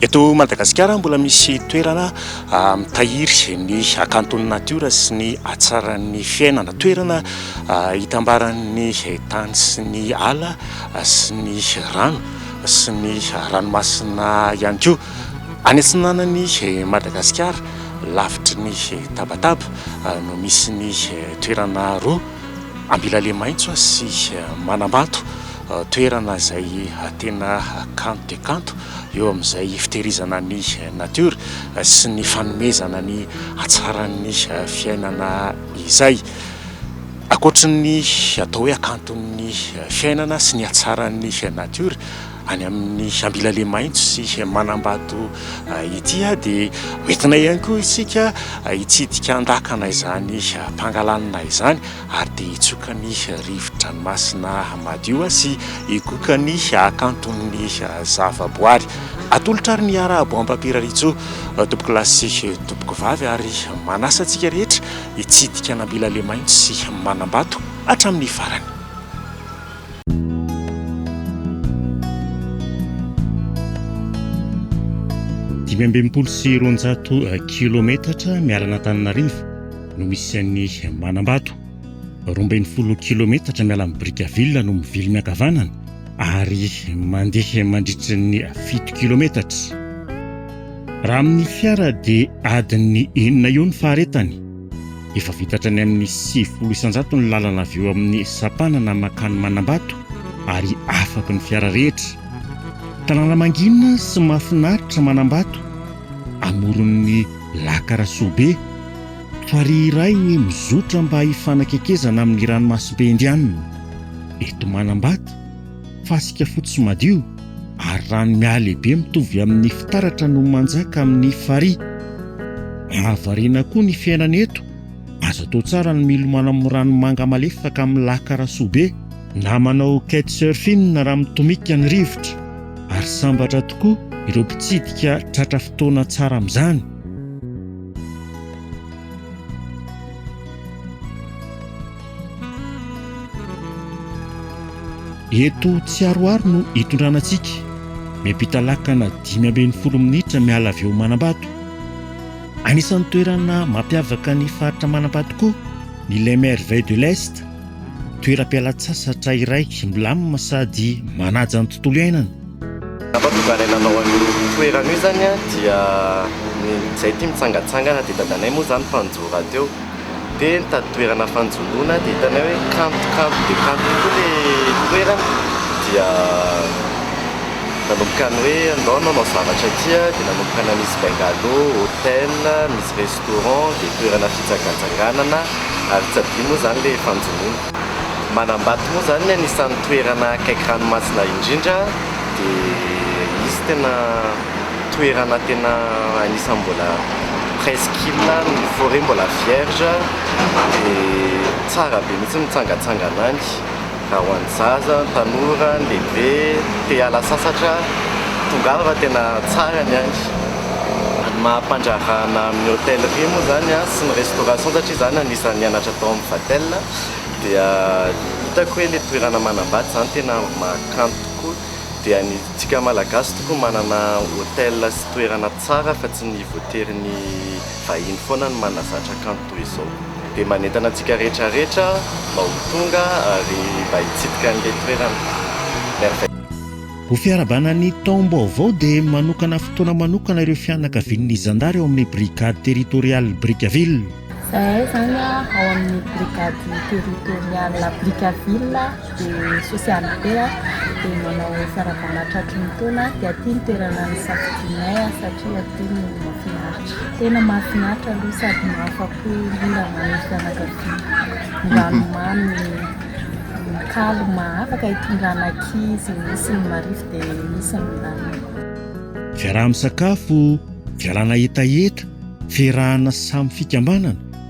Eto Madagasikara mbola misy toerana mitahiry ny hakanton'ny natiora sy ny hatsaran'ny fiainana. Toerana itambaran'ny tany sy ny ala sy ny rano sy ny ranomasina ihany koa. Any atsinanan'i Madagasikara, lavitry ny tabataba, no misy ny toerana roa, Ambilalemaitso sy Manambato. toerana izay tena kanto dia kanto eo amin'izay fitehirizana ny natiora sy ny fanomezana ny hatsaran'ny fiainana izay. Ankoatry ny atao hoe hakanton'ny fiainana sy ny hatsaran'ny natiora any amin'ny Ambilaley Maitso sy Manambato ity dia hoentina ihany koa isika hitsidika an-dakana izany mpangalanina izany. Ary dia hitsoka ny rivo-dranomasina madio sy higoka ny hakanton'ny zavaboary. Atolotra ary ny Arabo Ampampiraritsoa, tompokolahy sy tompokovavy, ary manasa antsika rehetra hitsidika an'Ambila Lemaintso sy Manambato hatramin'ny farany. Dimy amby enimpolo sy roanjato kilometatra miala an'Antananarivo. no misy an'i Manambato. Roa ambin'ny folo kilometatra miala amin'i Brickaville no mivily miankavanana ary mandeha mandritry ny fito kilometatra. Raha amin'ny fiara dia adin'ny enina eo ny faharetany. Efa vita hatrany amin'ny sivifolo isanjato ny lalana avy eo amin'ny sampanana mankany Manambato ary afaky ny fiara rehetra. Tanàna mangina sy mahafinaritra Manambato amoron'ny Laka Rasoabe, farihy iray mizotra mba hifanakekezana amin'ny ranomasimbe Indianina. Eto Manambata, fasika fotsy madio ary rano mihalehibe mitovy amin'ny fitaratra no manjaka amin'ny farihy. Mahavariana koa ny fiainana eto, azo atao tsara ny milomano amin'ny rano manga malefaka amin'ny Laka Rasoabe, na manao kitesurfing raha mitomika ny rivotra. ary sambatra tokoa ireo mpitsidika tratra fotoana tsara amin'izany. Eto Tsiaroaro no hitondrana antsika, miampita lakana dimy ambin'ny folo minitra miala avy eo Manambato. Anisan'ny toerana mampiavaka ny faritra Manambato koa ny Les Merveilles de l'Est, toeram-pialan-tsasatra iray milamina sady manaja ny tontolo iainana. Ny zava-tokana nanao an'io toerana io izany dia ny izay tia mitsangatsangana dia dadanay moa izany mpanjohy rahateo dia nitady toerana fanjonoana dia hitanay hoe kanto kanto dia kanto tokoa ilay toerana dia nanomboka ny hoe andao hanao zavatra aty dia nanomboka nanisy bungalow, hotel, nisy Coron dia toerana fijangajangànana ary tsy adino moa izany ilay fanjonoana. Manambato moa izany ny anisan'ny toerana akaiky ranomasina indrindra dia izy tena toerana tena anisan'ny mbola presqu'île ny forêt mbola vierge dia tsara be mihitsy ny mitsangatsangana any. Na ho an'ny zaza, ny tanora, ny lehibe, te hiala sasatra, tongava fa tena tsara ny any. Ny maha mpandraharahanà amin'ny hôtellerie moa izany sy ny restauration satria izaho anisan'ny nianatra tao amin'ny Vatel dia hitako hoe ilay toerana manambady izany tena maha-kanto tokoa. Dia ny antsika Malagasy tokoa manana hôtel sy toerana tsara fa tsy ny voatery ny vahiny foana no manazatra kanto. toy izao. Dia manentana antsika rehetra rehetra mba ho tonga ary mba hitsidika an'ilay toerana merveilleux. Ho fiarabana ny taom-baovao dia manokana fotoana manokana ireo fianakavian'ny zandary ao amin'ny Brigade Territoriale Brickaville. Izahay izany ao amin'ny Brigade Territoriale Brickaville. Dia sosialy be a, dia manao farabalà tratry ny taona a, dia aty ny toerana nisafidianay a, satria aty no mahafinaritra, tena mahafinaritra aloha sady mahafa-po indrindra manery fianakaviana, ranomamy kalma, afaka hitondrana ankizy, misy ny marifo dia misy ny lalina. Fiaraha-misakafo, fialana hetaheta, fierahana samy fikambanana.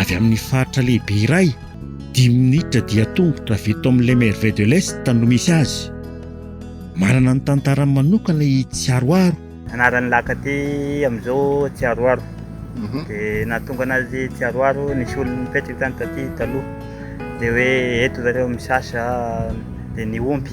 avy amin'ny faritra lehibe iray, dimy minitra dia tongotra avy eto amin'ny Les Merveilles de l'Est no misy azy. Manana ny tantarany manokana i Tsiaroaro. Anaran'ny lac aty amin'izao Tsiaroaro. Dia nahatonga anazy Tsiaroaro, nisy olona nipetraka tany taty taloha, dia hoe eto zareo misasa dia ny omby.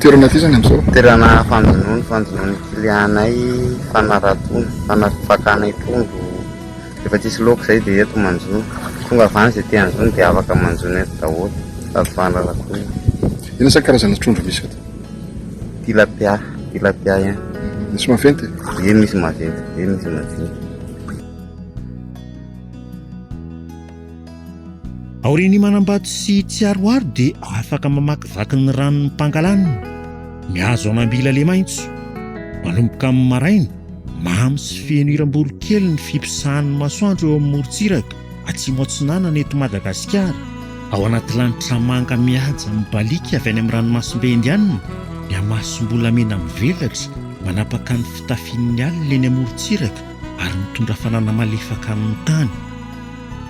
Toerana aty zany amzao? Toerana fanjonoana, fanjonoan'ny kilianay, fanaratoana, fanarto fakana i trondro, rehefa tsisy loaka izay dia eto manjono, tonga avy any izay te hanjono dia afaka manjono eto daholo sady fanaratoana. Inona izany karazana trondro misy eto? Tilapia, tilapia ihany. Misy maventy e? Eny misy maventy be, misy madinika. Aorian'ny manambato sy tsy aroaro dia afaka mamakivaky ny ranon'ny Pangalanina, mihazo an'Ambila Lemaintso. Manomboka amin'ny maraina, mamy sy feno hiram-borokely ny fiposahan'ny masoandro eo amin'ny morontsiraka Atsimo Atsinanana eto Madagasikara, ao anaty lanitra manga mihaja mibaliaka avy any amin'ny ranomasimbe Indianina, ny hamasom-bolamena mivelatra manapaka ny fitafian'ny alina eny amorontsiraka ary mitondra hafanana malefaka amin'ny tany.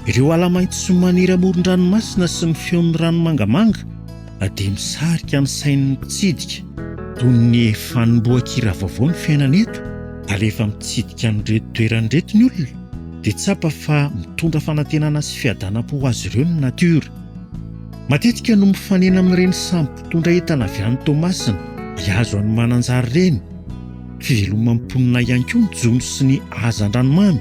Ireo ala maitso maniry amoron-dranomasina sy ny feon'ny rano mangamanga dia misarika ny sain'ny mpitsidika. Toy ny efa hanombohan-kira vaovao ny fiainana eto ary rehefa mitsidika an'ireto toerana ireto ny olona dia tsapa fa mitondra fanantenana sy fiadanam-po ho azy ireo ny natiora. Matetika no mifanena amin'ireny sambo mpitondra entana avy any Toamasina hihazo an'i Mananjary ireny. Fiveloman'ny mponina ihany koa ny jono sy ny hazandranomamy.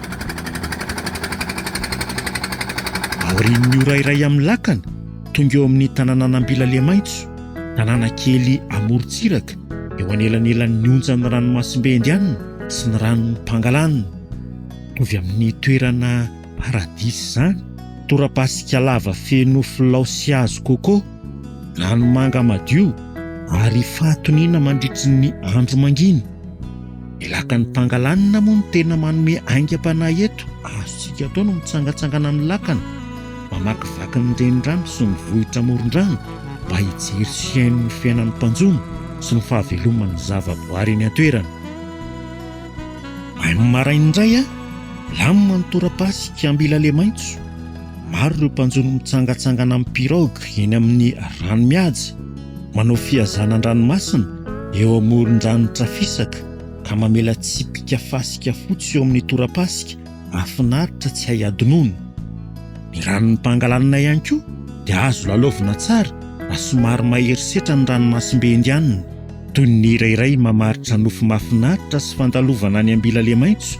Aorian'ny ora iray amin'ny lakana, tonga eo amin'ny tanànan'Ambilalemaitso, tanàna kely amorontsiraka eo anelanelan'ny onjan'ny ranomasimbe Indianina sy ny ranon'i Pangalanana. Mitovy amin'ny toerana paradisa izany. Torapasika lava feno filao sy hazo coco. Ranomanga madio ary fahatoniana mandritry ny andro manginy. Ny lakan'ny Pangalanina moa no tena manome aingam-panahy eto. Azontsika atao no mitsangatsangana amin'ny lakana, mamakivaky ny renirano sy ny vohitra amoron-drano mba hijery sy hihaino ny fiainan'ny mpanjono sy ny fahaveloman'ny zavaboary eny an-toerana. Mahay maraina indray an! Milamina ny tora-pasika, mila lemaitso. Maro ireo mpanjono mitsangatsangana amin'ny pirogue eny amin'ny rano mihaja, manao fihazana an-dranomasina eo amoron-drano Trafisaka ka mamela tsipika fasika fotsy eo amin'ny torapasika mahafinaritra tsy hay hadinoina. Ny ranon'ny Pangalanina ihany koa dia azo lalaovina tsara raha somary mahery setra ny ranomasimbe Indianina. Toy ny hira iray mamaritra nofy mahafinaritra sy fandalovana any Ambilalemaitso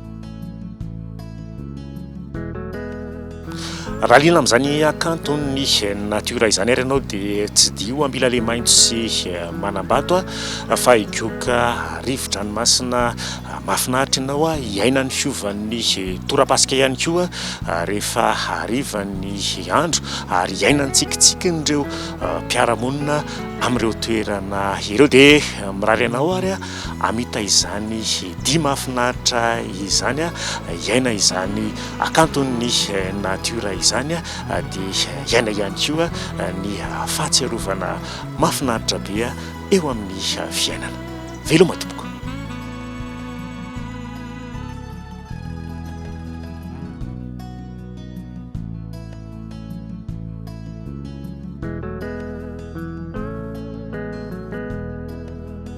Raha liana amin'izany hakanton'ny natiora izany ary ianao dia tsidiho Ambilale maitso sy manambato fa higoka rivo-dranomasina mahafinaritra ianao hiaina ny fiovan'ny torapasika ihany koa rehefa harivan'ny andro ary hiaina ny tsikitsikin'ireo mpiara-monina amin'ireo toerana ireo dia mirary anao ary hamita izany dia mahafinaritra izany, hiaina izany hakanton'ny natiora izany dia hiaina ihany koa ny fahatsiarovana mahafinaritra be eo amin'ny fiainana. Veloma tompoko.